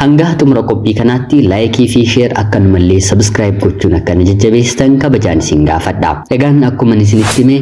Hangaa xumura qophii kanaatti laayikii fi sheer akkanumallee sabiskiraayib gochuun akka na jajjabeessitan kabajaan isin gaafadha. Egaan akkuman isinitti hime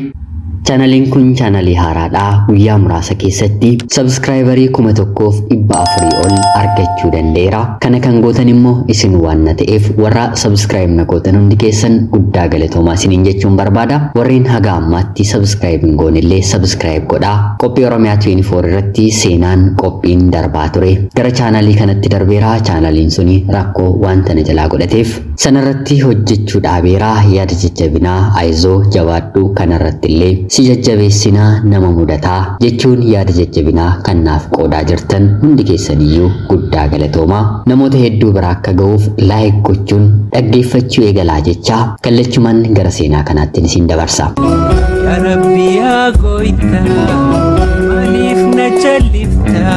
chaanaliin kun chaanalii haaraadha. Guyyaa muraasa keessatti sabiskiraayibarii kuma tokkoof dhibba afurii ol argachuu danda'eera. Kana kan gootan immoo isin waan na ta'eef warra sabiskiraayib na gootan hundi keessan guddaa galatoomaa isiniin jechuun barbaada. Warreen haga ammaatti sabiskiraayib hin goonellee sabiskiraayib godhaa. Qophii Oromiyaa 24 irratti seenaan qophiin darbaa hojjechaa ture gara chaanaalii kanatti darbeera chaanaaliin suni rakkoo wanta na jalaa godhateef sanarratti hojjechuu dhaabeera yaada jajjabinaa ayizoo jabaadhu kanarratti illee si jajjabeessinaa nama mudataa jechuun yaada jajjabinaa kan naaf qoodaa jirtan hundi keessaniyyuu guddaa galatoomaa namoota hedduu bira akka ga'uuf laayik gochuun dhaggeeffachuu eegalaa jechaa Kallachumaan gara seenaa kanaattiin isin dabarsa. Yaa Rabbi yaa gooyta maaliif na callifta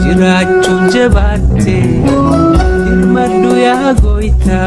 jiraachuun jabaatte dirmadhu yaa gooyta.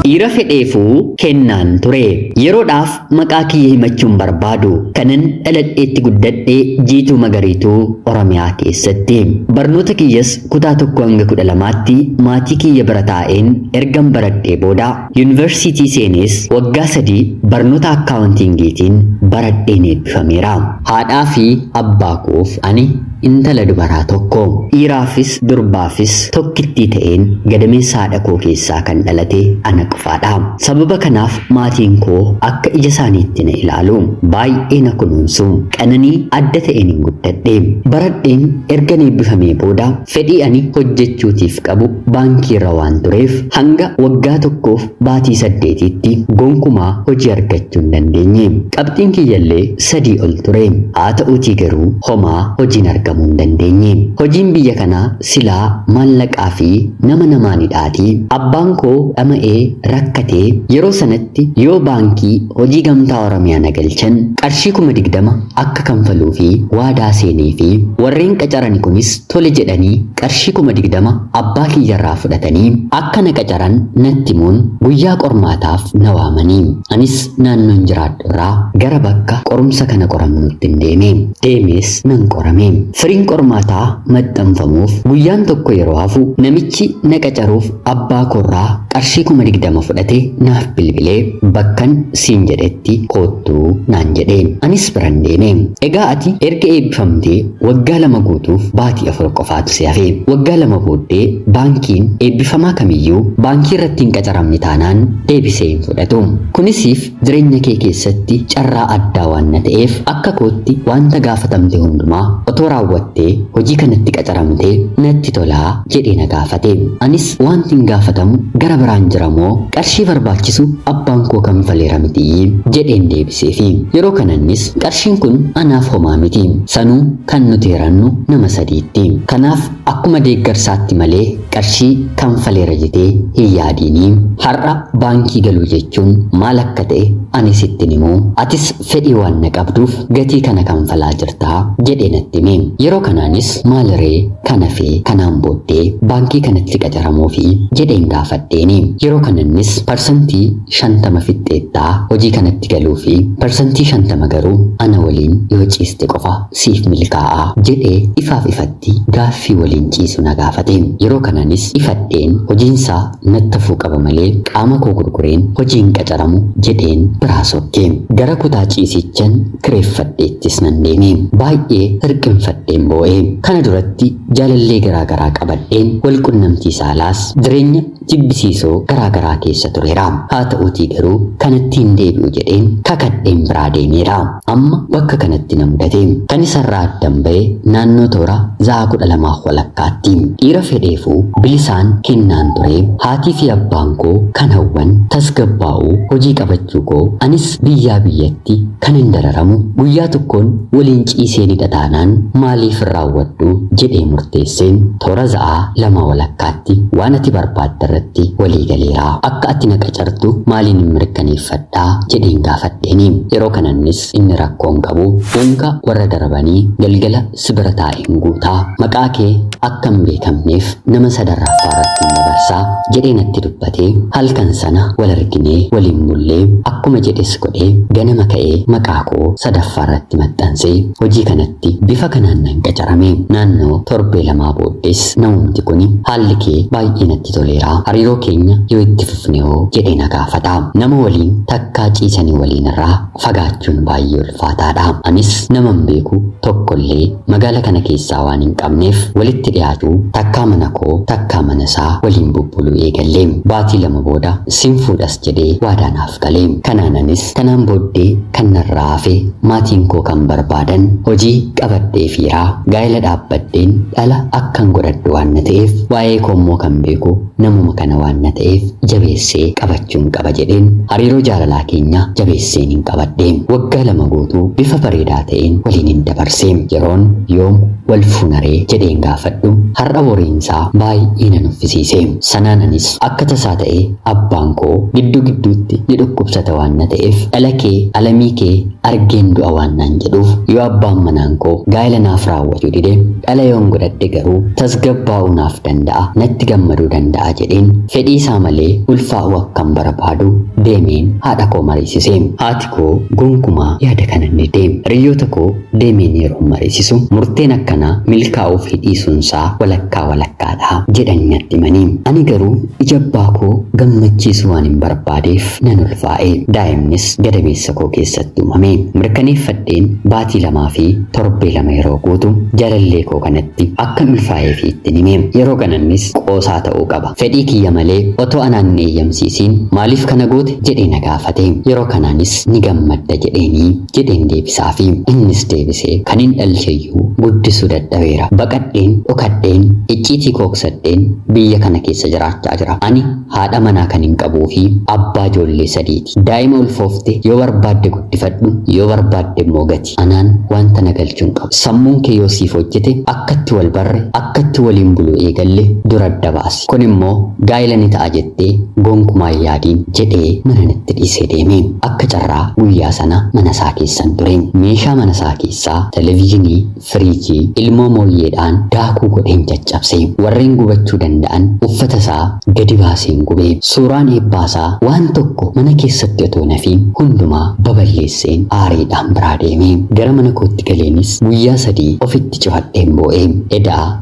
Dhiira fedheefuu kennaan ture. Yeroodhaaf maqaa kiyya himachuun barbaadu. Kanan dhaladheetti guddadhe jiituu magariituu Oromiyaa keessatti. Barnoota kiyyas kutaa tokko hanga kudha lamaatti maatii kiyya bira taa'een ergan baradhee booda Yunivarsiitii seenees waggaa sadii barnoota Akkaawuntiingiitiin baradheen eebbifameera. Haadhaa fi abbaa koof ani intala dubaraa tokko. Dhiiraafis durbaafis tokkittii ta'een gadameessa haadha koo keessaa kan dhalate ana qofaadha. Sababa kanaaf maatiin koo akka ija isaaniitti na ilaalu. Baay'ee na kunuunsu. Qananii adda ta'eenin guddadhe. Baradheen ergan eebbifamee booda Fedhii ani hojjechuutiif qabu baankiirra waan tureef hanga waggaa tokkoof baatii saddeetiitti gonkumaa hojii argachuu hin dandeenye. Qabxiin kiyyallee sadii ol ture. Haata'uutii garuu homaa hojiin argamuu hin dandeenye. Hojiin biyya kanaa silaa maallaqaafi nama namaanidhaatii abbaan koo dhama'ee rakkatee yeroo sanatti tti yoo baankii hojii gamtaa oromiyaa na galchan qarshii 20,000 akka kanfaluufi waadaa seeneefi warreen qacarani kunis tole jedhanii qarshii 20,000 abbaa kiyyarraa fudhatanii akka na qacaran natti himuun guyyaa qormaataaf na waamani anis naannoon jiraadhurraa gara bakka qorumsa kana qoramnuttin deeme deemees nan qorame firiin qormaataa maxxanfamuuf guyyaan tokko yeroo hafu namichi na qacaruuf Abbaa koorraa qarshii kuma digdama fudhatee naaf bilbilee bakkan siin jedhetti koottu naan jedhe. Anis biran deeme. Egaa ati erga eebbifamtee waggaa lama guutuuf baatii afur qofaatu si hafe. Waggaa lama booddee baankiin eebbifamaa kamiyyuu baankii irratti hin qacaramne taanaan deebisee hin fudhatu. Kunis Jireenya kee keessatti carraa addaa waanna ta'eef akka kootti waanta gaafatamte hundumaa otoo raawwattee hojii kanatti qacaramtee natti tola jedhee na gaafate. Anis waantin gaafatamu gara biraan jira moo qarshii barbaachisu abbaan koo kanfaleera mitii? jedheen deebiseefi. Yeroo kanannis qarshiin kun anaaf homaa miti. Sanuu kan nuti hirannu nama sadiitti. Kanaaf Akkuma deeggarsaatti malee qarshii kanfaleera jetee hin yaadiini. Har'a baankii galuu jechuun maal akka ta'e ani sittin himuu, atis fedhii waan na qabduuf gatii kana kanfalaa jirta jedhee natti hime. Yeroo kanaanis maaliree kan hafe kanaan booddee baankii kanatti qacaramuufi jedheen gaafadheeni. Yeroo kanannis parsantii shantama fixxeetta hojii kanatti galuufi parsantii shantama garuu ana waliin yoo ciiste qofa siif milkaa'a jedhee ifaaf ifatti irratti gaaffii waliin ciisu na gaafate. Yeroo kanaanis ifadheen hojiinsaa nattafuu qaba malee qaama koo gurgureen hojii hin qacaramu jedheen biraa sokke. Gara kutaa ciisiichan kireeffadheettis nan deeme. Baay'ee hirqinfadheen boo'e. Kana duratti jaalallee garaa garaa qabadheen wal qunnamtii saalaas jireenya jibbisiisoo garaa garaa keessa tureera. Haata'uutii garuu kanatti hin deebi'u jedheen kakadheen biraa deemeera. Amma bakka kanatti na mudate. Kan isarraa addan ba'e naannoo toora za'aa kudha lamaaf walakkaatti. Dhiira fedheefuu bilisaan kennaan ture. Haatiifi abbaan koo kan hawwan tasgabbaa'uu, hojii qabachuu koo, anis biyyaa biyyatti kanan dararamu guyyaa tokkoon waliin ciiseenidha taanaan maaliif hin raawwadhu jedhee murteesseen toora za'aa lama walakkaa Fakkaatti waan ati barbaadde irratti walii galeera. Akka ati na qacartu maaliinin mirkaneeffadha? jedheen gaafadheeni. Yeroo kanannis inni rakkoo hin qabu. Unka warra darbanii galgala si bira taa'een guuta. Maqaa kee akka hin beekamneef nama sadarraffaa irrattin dabarsa. jedhee natti dubbate. Halkan sana wal arginee waliin bulle. Akkuma jedhes godhe ganama ka'ee maqaa koo sadaffaa irratti maxxanse. Hojii kanatti bifa kanaan nan qacarame. Naannoo torbee lamaa booddes Thanks namumti kuni haalli kee baay'ee natti toleera hariiroo keenya yoo itti fufne hoo jedhee na gaafata nama waliin takkaa ciisanii waliin irraa fagaachuun baay'ee ulfaataadha anis naman beeku tokkollee magaala kana keessaa waan hin qabneef walitti dhiyaachuu takkaa mana koo takkaa mana isaa waliin bubbuluu eegalle baatii lama booda sin fuudhas jedhee waadaa naaf gale. Kanaan anis kanaan booddee kan narraa hafe maatiin koo kan barbaadan hojii qabadheefiiraa gaa'ela dhaabbadheen dhala akkan godhadhu waan na ta'eef waa'ee koo immoo kan beeku namuma kana waan na ta'eef jabeessee qabachuun qaba jedheen hariiroo jaalalaa keenya jabeesseen hin qabadhe. Waggaa lama guutuu bifa bareedaa ta'een waliin hin dabarse. Yeroon yoom wal fuunaree jedheen gaafadhu har'a boriinsaa baay'ee na nuffisiise. Sanaan anis akka tasaa ta'ee Abbaan koo gidduu gidduutti ni dhukkubsata waan na ta'eef dhala kee Alamii kee argeen du'a waan naan jedhuuf yoo abbaan manaan koo gaa'ila naaf raawwachuu dide dhala yoon godhadhe garuu tasgabbaa'uu naaf danda'a natti gammaduu danda'a jedheen fedhii isaa malee ulfaa'uu akkan barbaadu deemeen haadha koo mariisise. Haati koo gonkumaa yaada kana hin dide. Hiriyyoota koo deemeen yeroon mariisisu murteen akkanaa milkaa'uu fi dhiisuun isaa walakkaa walakkaadha jedhanii natti himani. Ani garuu Ija abbaa koo gammachiisu waanin barbaadeef nan ulfaa'e. Daa'imnis gadameessa koo keessatti uumame. Mirkaneeffadheen baatii lamaa fi torbee lama yeroo guutu jaalallee koo kanatti akkan ulfaa'eefii ittin hime. Yeroo kanannis qoosaa ta'uu qaba. Fedhii kiyya malee otoo anaan hin eeyyamsiisiin maaliif kana goote? jedhee na gaafate. Yeroo kanaanis ni gammadda jedheenii. jedheen deebisaafii. Innis deebisee, Kanin dhalcheyyuu guddisuu dadhabeera. Baqadheen, dhokadheen, icciitii koo qusadheen biyya kana keessa jiraachaa jira. Ani haadha manaa kanin qabuu fi abbaa ijoollee sadiiti. Daa'ima ulfoofte yoo barbaadde guddifadhu, yoo barbaadde immoo gati. Anaan wanta na galchu hin qabu. Sammuun kee yoo siif hojjete, akkatti wal barre, akkatti waliin buluu eegalle dur adda baasi. jette. Kun immoo gaa'ila ni ta'a jettee gonkumaa hin yaadiin, jedhee manan itti dhiisee deeme. Akka carraa guyyaa sana mana isaa keessan ture. Meeshaa mana isaa keessaa, televizhinii, firiijii, ilmoo mooyyeedhaan daakuu godheen caccabse. Warreen gubachuu danda'an uffata isaa gadi baaseen gube. Suuraan eebbaa isaa waan tokko mana keessatti otoo hin hafiin hundumaa baballeesseen aariidhaan biraa deeme. Gara mana kootti galeenis guyyaa sadii ofitti cufadheen boo'e. Edaa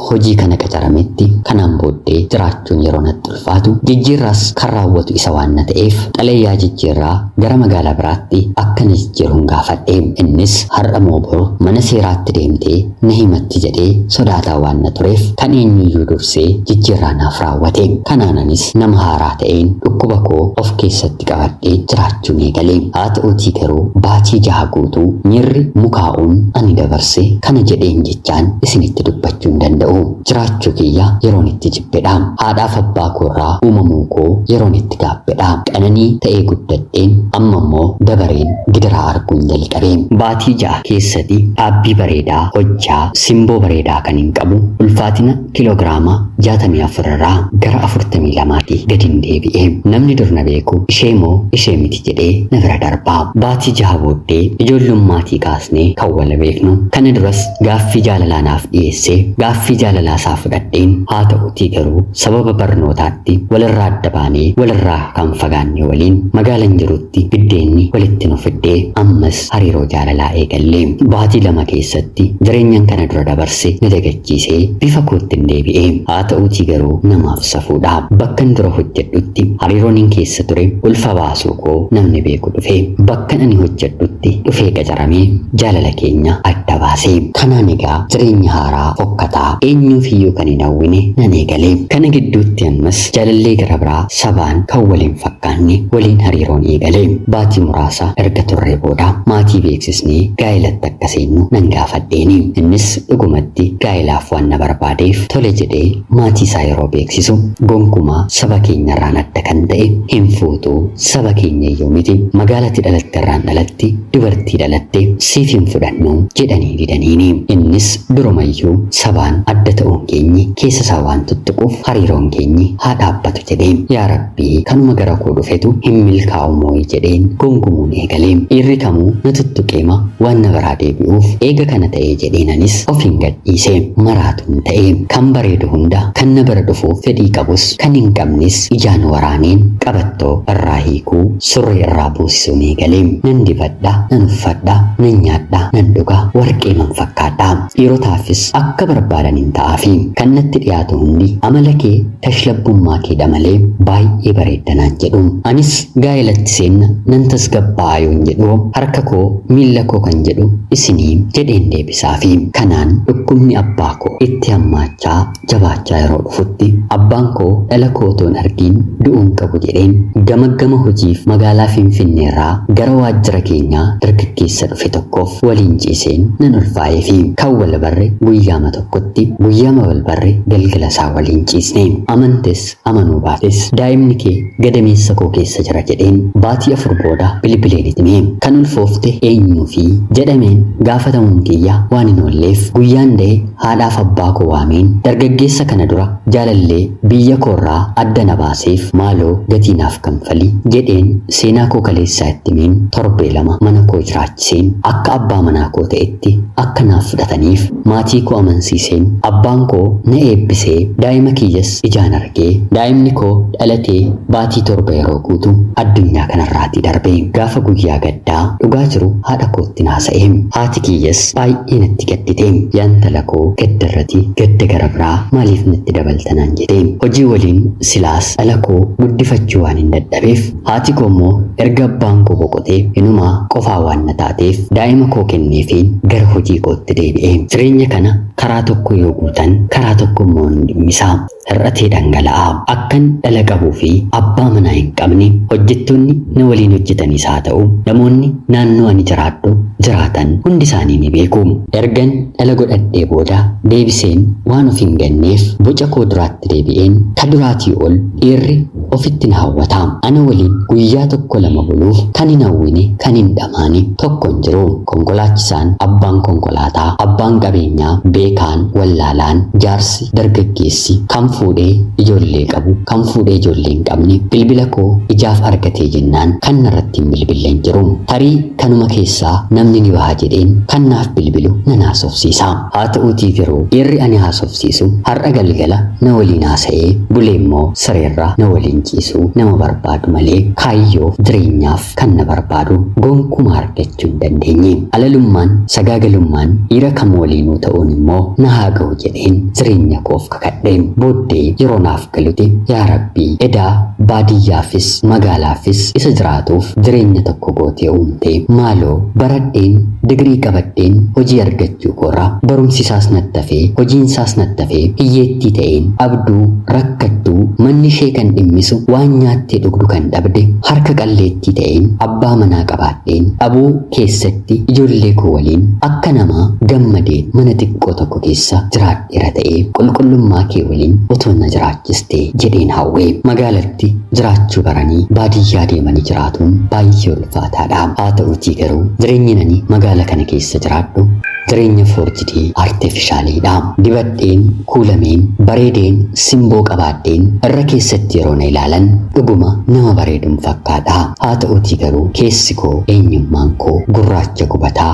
hojii kana qacarametti kanaan booddee jiraachuun yeroo natti ulfaatu jijjiirraas kan raawwatu isa waan na ta'eef xalayaa jijjiirraa gara magaalaa biraatti akka na jijjiiruun gaafadhe innis har'a moo bor mana seeraatti deemtee na himatti jedhee sodaataa waan na tureef kan eenyuyyuu dursee jijjiirraa naaf raawwate kanaan anis nama haaraa ta'een dhukkuba koo of keessatti qabadhee jiraachuun eegale haa ta'uutii garuu baatii jaha guutuu miirri mukaa'uun ani dabarse kana jedheen ijaan isinitti dubbachuu hin danda'u. Jiraachuu kiyya yeroon itti jibbedha. Haadhaaf abbaa koorraa uumamuu koo yeroon itti gaabbedha. Qananii ta'ee guddadheen amma immoo dabareen gidiraa arguun jalqabe. Baatii ja'a keessati dhaabbii bareedaa hojjaa simboo bareedaa kanin qabu ulfaatina kilograama 64 irraa gara 42 ti gadin deebi'e. Namni dur na beeku ishee moo ishee miti jedhee na bira darba. Baatii jaha booddee ijoollummaatii kaasnee kan wal beeknu. Kana duras gaaffii jaalalaa naaf dhiyeessee gaaffii jaalalaa isaa fudhadheen haa ta'utii garuu sababa barnootaatti walirraa adda baanee walirraa kan fagaanne waliin magaalan jirutti biddeenni walitti nu fidde ammas hariiroo jaalalaa eegalle. Baatii lama keessatti jireenyan kana dura dabarse na dagachiise. dhiisee bifa koottin deebi'e. Haata'uutii garuu namaaf safuudha. Bakkan dura hojjedhutti hariiroonin keessa ture ulfa baasuu koo namni beeku dhufe. Bakkan ani hojjedhutti dhufee qacaramee jaalala keenya adda baase. Kanaan egaa jireenya haaraa fokkataa eenyuufiyyuu kan hin hawwine nan eegale. Kana gidduutti ammas jaalallee gara biraa sabaan kan wal hin fakkaanne waliin hariiroon eegale. Baatii muraasa erga turree booda maatii beeksisnee gaa'elatti akka seennu nan gaafadheeni. Innis Dhugumatti gaa'elaaf waan na barbaadeef tole jedhee maatii isaa yeroo beeksisu gonkumaa saba keenya irraan adda kan ta'e hin fuutu saba keenya iyyuu miti magaala ati dhalatte irraan dhalatte dubartii dhalatte siif hin fudhannu jedhanii didaniini. Innis duruma iyyuu sabaan adda ta'uun keenyi keessa isaa waan tuttuquuf hariiroon keenyi haa dhaabbatu jedheen. Yaa Rabbi! Kanuma gara koo dhufetu hin milkaa'u mooyi jedheen gungumuun eegale. Dhiirri kamuu na tuttuqeema waan na biraa deebi'uuf eega kana ta'ee jedheen anis ofiin gad dhiise. Maraatuun ta'e. Kan bareedu hunda kan na bira dhufuuf fedhii qabus kan hin qabnes ijaan waraaneen qabattoo irraa hiikuu, surree irraa buusisuun eegale. Nan dibadha, nan uffadha, nan nyaadha, nan dhuga, warqeeman fakkaadha. Dhiirotaafis akka barbaadanin ta'aafi. Kan natti dhiyaatu hundi amala kee, Tashlabbummaa keedha malee baay'ee bareedda naan jedhu. Anis gaa'elatti seenna nan tasgabbaa'a yoon jedhu harka koo miilla koo kan jedhu isinii jedheen deebisaafi. Kanaan dhukkubni abbaa koo itti hammaachaa jabaachaa yeroo dhufutti abbaan koo dhala koo otoo hin argiin du'uun qabu jedheen gamaggama hojiif magaalaa Finfinneerraa gara waajjira keenyaa dargaggeessa dhufe tokkoof waliin ciiseen nan ulfaa'eefi. Kan wal barre guyyaama tokko. tokkotti guyyaama wal barre galgala isaa waliin ciisne. Amantes amanuu baates daa'imni kee gadameessa koo keessa jira jedheen baatii afur booda bilbileen itti hime. Kan ulfoofte eenyuufi? jedhameen gaafatamuun kiyya waan hin oolleef guyyaan da'e haadhaaf abbaa koo waameen dargaggeessa kana dura jaalallee biyya koorraa adda na baaseef maaloo gatii naaf kanfali jedheen seenaa koo kaleessaa itti himeen torbee lama mana koo jiraachiseen akka abbaa manaa koo ta'etti akka naaf fudhataniif Maatii koo amansiiseen, abbaan koo na eebbisee daa'ima kiyyas ijaan argee. Daa'imni koo dhalatee baatii torba yeroo guutu addunyaa kanarraatii darbe. Gaafa guyyaa gaddaa dhugaa jiru haadha koottin haasa'e. Haati kiyyas baay'ee natti gaddite. Yaa intala koo gaddarrati gadda gara biraa maaliif natti dabalta naan jete. Hojii waliin silaas dhala koo guddifachuu waanin dadhabeef Haati koo immoo erga abbaan koo boqotee inumaa qofaa waan na taateef daa'ima koo kenneefiin gara hojii kootti deebi'e. Jireenya kana karaa tokko yoo guutan karaa tokko immoo hin dhimmisa. Hir'atee dhangala'a. Akkan dhala qabuu fi abbaa manaa hin qabne, hojjettoonni na waliin hojjetanis haa ta'u namoonni naannoo ani jiraadhu jiraatan hundi isaanii ni beeku. Ergan dhala godhadhee booda deebiseen waan of hin ganneef boca koo duraatti deebi'een ka duraatii ol dhiirri ofitti na hawwata. Ana waliin guyyaa tokko lama buluuf kan hin hawwine, kan hin dhamaane tokko hin jiru. Konkolaachisaan, abbaan konkolaataa, abbaan qabeenyaa, beekaan, wallaalaan, jaarsi, dargaggeessi, kan fuudhee ijoollee qabu, kan fuudhee ijoollee hin qabne bilbila koo ijaaf argatee jennaan kan narratti hin bilbille hin jiru. Tarii kanuma keessaa namni ni baha jedheen kan naaf bilbilu nan haasofsiisa. Haa ta'uutii garuu dhiirri ani haasofsiisu. barsiisu har'a galgala na waliin haasa'ee buleemmoo sireerra na waliin ciisu nama barbaadu malee kaayyoof jireenyaaf kan na barbaadu gonkumaa argachuu hin dandeenye. Alalummaan, sagaagalummaan dhiira kam waliinuu ta'uun immoo na haa gahu jedheen jireenya koof kakadhe. Booddee yeroo naaf galuti yaa rabbi edaa baadiyyaafis magaalaafis isa jiraatuuf jireenya tokko gootee uumte maaloo baradheen digirii qabadheen hojii argachuu koorra barumsisaas nattafee hojiinsaas nattafee hiyyeettii ta'een dhabduu rakkattuu manni ishee kan dhimmisu waan nyaattee dhugdu kan dhabde harka qalleettii ta'een abbaa manaa qabaadheen dhabuu keessatti ijoollee koo waliin akka namaa gammadee mana xiqqoo tokko keessa jiraadhu Dhiira ta'ee qulqullummaa kee waliin utuu na jiraachistee jedheen hawwe. Magaalatti jiraachuu baranii baadiyyaa deemanii jiraatuun baay'ee ulfaataadha. Haa ta'uutii garuu jireenyin ani magaala kana keessa jiraadhu jireenya foorjidii, artefishaaliidha. Dibadheen, kuulameen, bareedeen, simboo qabaadheen irra keessatti yeroo na ilaalan dhuguma nama bareedun fakkaadha. Haa ta'uutii garuu keessi koo, eenyummaan koo gurraacha gubataa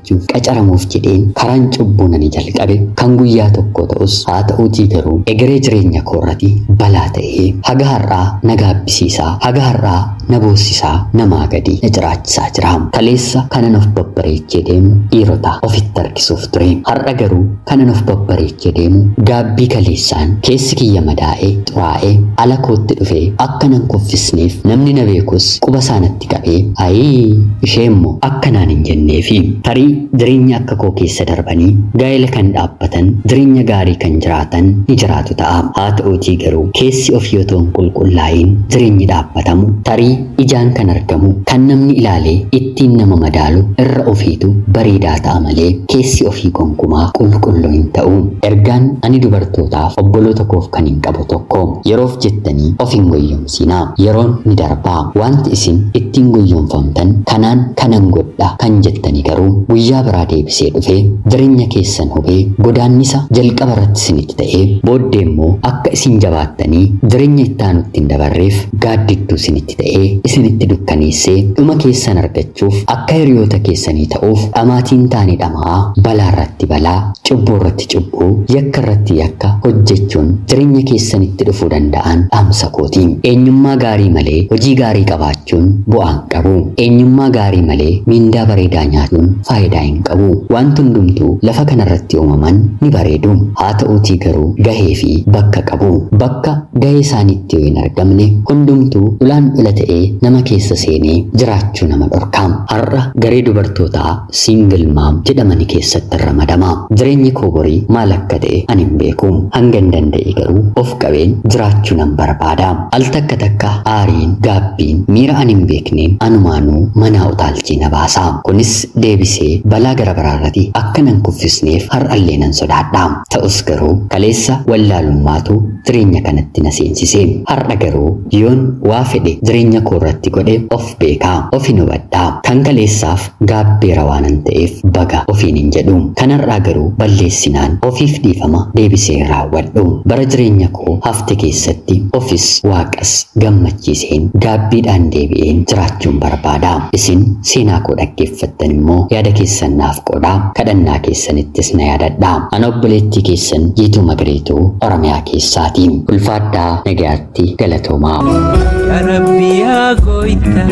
Yihowaatiin qacaramuuf jedheen karaan cubbuun ani jalqabe kan guyyaa tokkoo ta'us, haa ta'uutii garuu egeree jireenya koorrati balaa ta'ee haga har'aa na gaabbisiisaa, haga har'aa na boossisaa, namaa gadi na ciraachisaa jira. Kaleessa kanan of babbareechee deemu dhiirota ofitti harkisuuf ture. Har'a garuu kanan of babbareechee deemu gaabbii kaleessaan keessi kiyya madaa'ee, xuraa'ee, ala kootti dhufee akka nan kuffisneef namni na beekus quba isaa natti itti qabee ayii isheemmo akka naan hin jenneefi. Tarii jireenya akka koo keessa darbanii gaa'ela kan dhaabbatan, jireenya gaarii kan jiraatan ni jiraatu ta'a. Haa ta'uutii garuu keessi ofii otoo hin qulqullaa'iin jireenyi dhaabbatamu tarii ijaan kan argamu, kan namni ilaalee ittiin nama madaalu irra ofiitu bareedaa ta'a malee keessi ofii gonkumaa qulqulluu hin ta'u. Ergaan ani dubartootaaf obboloota koof kanin qabu tokko. Yeroof jettanii of hin goyyomsinaa. cabsiina. Yeroon ni darba. Waanti isin ittiin goyyomfamtan kanaan kanan godha kan jettani garuu guyyaa biraa deebisee dhufee jirenya keessan hubee godaannisa jalqaba irratti isinitti ta'e booddee immoo akka isin jabaattanii jirenya itti aanutti hin dabarreef gaaddidduu isinitti ta'ee isinitti dukkaneessee dhuma keessan argachuu gochuuf akka hiriyoota keessanii ta'uuf dhamaatii hin taane dhama'aa, balaa irratti balaa, cubbuu irratti cubbuu, yakka irratti yakka hojjechuun jireenya keessanitti dhufuu danda'an dhaamsa kooti. Eenyummaa gaarii malee hojii gaarii qabaachuun bu'aa hin qabu. Eenyummaa gaarii malee miindaa bareedaa nyaatuun faayidaa hin qabu. Waanti hundumtuu lafa kana irratti uumaman ni bareedu. Haa ta'uutii garuu gahee fi bakka qabu. Bakka. gahee isaaniitti yoo hin argamne hundumtuu ulaan dhola ta'ee nama keessa seenee jiraachuu nama dhorka. Har'a garee dubartootaa single mom jedhamani keessattin ramadama. Jireenyi koo borii maal akka ta'e ani hin beeku. Hangan danda'e garuu of qabeen jiraachuu nan barbaada. Al takka takka aariin, gaabbiin, miira ani hin beekneen anumaanuu manaa utaalchee na baasa. Kunis deebisee balaa gara biraarrati akka nan kuffisneef har'allee nan sodaadha. Ta'us garuu kaleessa wallaalummaatu jireenya kanatti na seensise. Har'a garuu yoon waa fedhe jireenya koorratti godhe of beeka. Ofin hubadha. Kan kaleessaaf gaabbeera waanan ta'eef baga ofiin hin jedhu. Kan har'aa garuu balleessinaan ofiif dhiifama deebisee hin raawwadhu. Bara jireenya koo hafte keessatti ofis waaqas gammachiiseen gaabbiidhaan deebi'een jiraachuun barbaada. Isin seenaa koo dhaggeeffattan immoo yaada keessan naaf qoodaa, kadhannaa keessanittis na yaadadhaa. Ana obboleettii keessan Jiituu Magariituu Oromiyaa keessaati. Ulfaadhaa nagayaatti galatoomaa. Ya Rabbi ya Goyta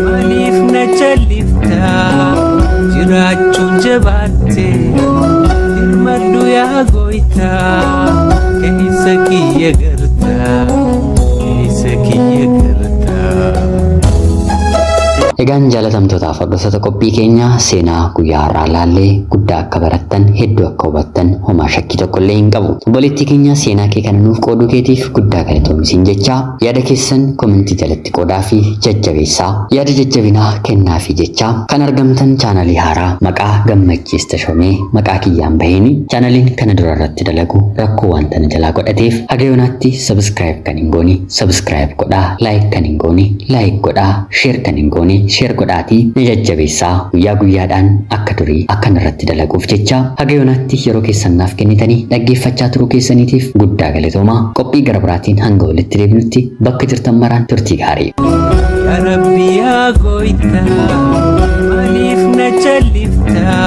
Malif na chalifta Jirachun jabatte Dirmadhu ya Goyta Kahisa kiyya garta Egaan jaalatamtootaaf hordoftoota qophii keenyaa seenaa guyyaa har'aa ilaallee guddaa akka barattan hedduu akka hubattan homaa shakkii tokko illee hin qabu. Obboleettii keenya seenaa kee kana nuuf qooduu keetiif guddaa galatoomi siin jechaa yaada keessan komentii jalatti qoodaa fi jajjabeessaa. Yaada jajjabinaa kennaa fi jechaa kan argamtan chaanalii haaraa maqaa gammachiis tashomee maqaa kiyyaan baheeni chaanaliin kana dura irratti dalagu rakkoo waan tana jalaa godhateef haga yoonaatti Subscribe kan hin goone subscribe godhaa like kan hin goone like godhaa share kan hin goone share godhaatii na jajjabeessaa guyyaa guyyaadhaan akka durii akkan irratti dalaguuf jecha haga yonaatti yeroo keessan naaf kennitanii dhaggeeffachaa turuu keessaniitiif guddaa galatoomaa qophii gara biraatiin hanga walitti deebinutti bakka jirtan maraan turtii gaarii. Ya Rabbi ya goyta Malif na chalifta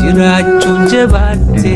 Jirachun jabate